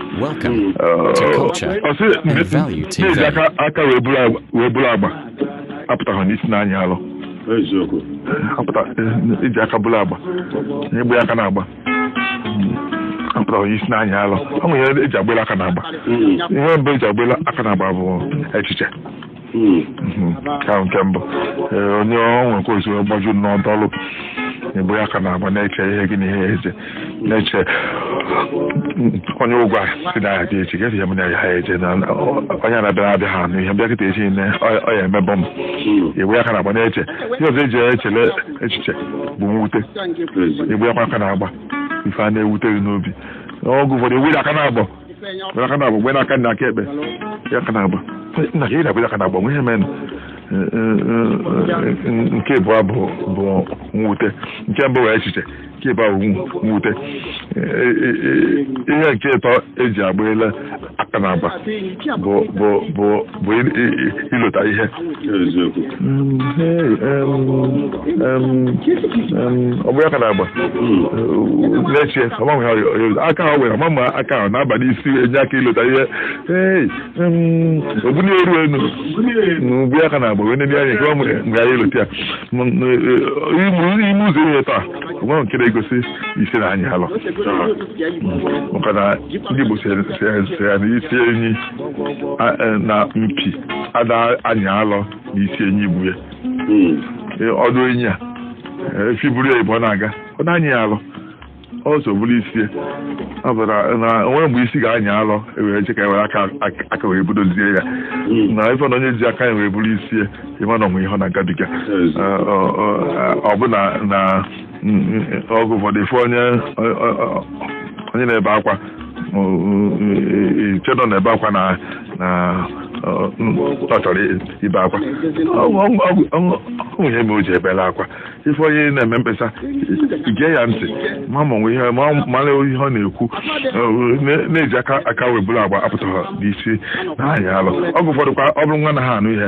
Welcome to culture and value TV. na e ji aka wee buru agba apụtaghị n'isi na-anya alọ iji aka buru agba na egbe aka n'agba apụtaghị n'isi na-anya alọ ọ nwere ihe eji agbela aka n'agba ihe mbụ eji agbela aka n'agba bụ echiche ka nke mbụ ee onye ọ nwe ka o si gbaju ọ nọdọlụ gbe aka n'agba na-eche ihe gị na ihe ya eche na-eche onye ụgwọ sị na ya dị echi gesi ya m na ya eche na onye na-abịa abịa ha anụ ihe bịa kịta echi ne ọ ya emebọ m igbe aka n'agba na-eche ihe ọzọ eji echele echiche bụ mwute igbe aka n'agba ife a na-ewute gị n'obi oge ụfọdụ ewere aka n'agba Gbe aka n'agba mgbe n'aka nna aka ekpe aka n'agba nna ka ị na-egbe aka n'agba nwe ihe menụ nke ịbụa bụ mwute nke mbụ wee echiche nke ịbụa bụ mwute ihe nke ịtọ eji agbela aka n'agba bụ bụ ilota ihe ọ bụ aka n'agba na-eche aka ha were ma aka ahụ na-aba n'isi enye aka ilota ihe o bunie iru enu egbe aka n'agba wee nene anya nke ọ mgbe anyị ilota ya ime ụzọ ihe ịtọ a ọ nwe nke na-egosi isi na-anyị alọ maka na ndị Igbo sị ya na isi enyi e, na mpi ada anyị alọ n'isi enyi igbu ya hmm. e, ọdụ enyi a efi buru ya ibu na-aga ọ da anyị ya alọ o so buru isi ya na onwe mgbe isi ga-anyị alọ ewere che ka ewere aka wee budozie ya hmm. na ị fụ na onye ji aka ya wee buru isi ya ị ma na o nwe ihe ọ na-agabiga ọ bụ na oge ụfọdụ ị fụ onye onye na-ebe akwa chedọ na-ebe akwa na na ọ chọrọ ibe akwa o nwe ihe me o ji ebela akwa ị fụ onye na-eme mkpesa gee ya ntị ma ma wee mara ihe ọ na-ekwu na e ji aka wee buru agba apụtaghị n'isi na-anya alọ oge ụfọdụ kwa ọ bụrụ nwa na ha anụ ihe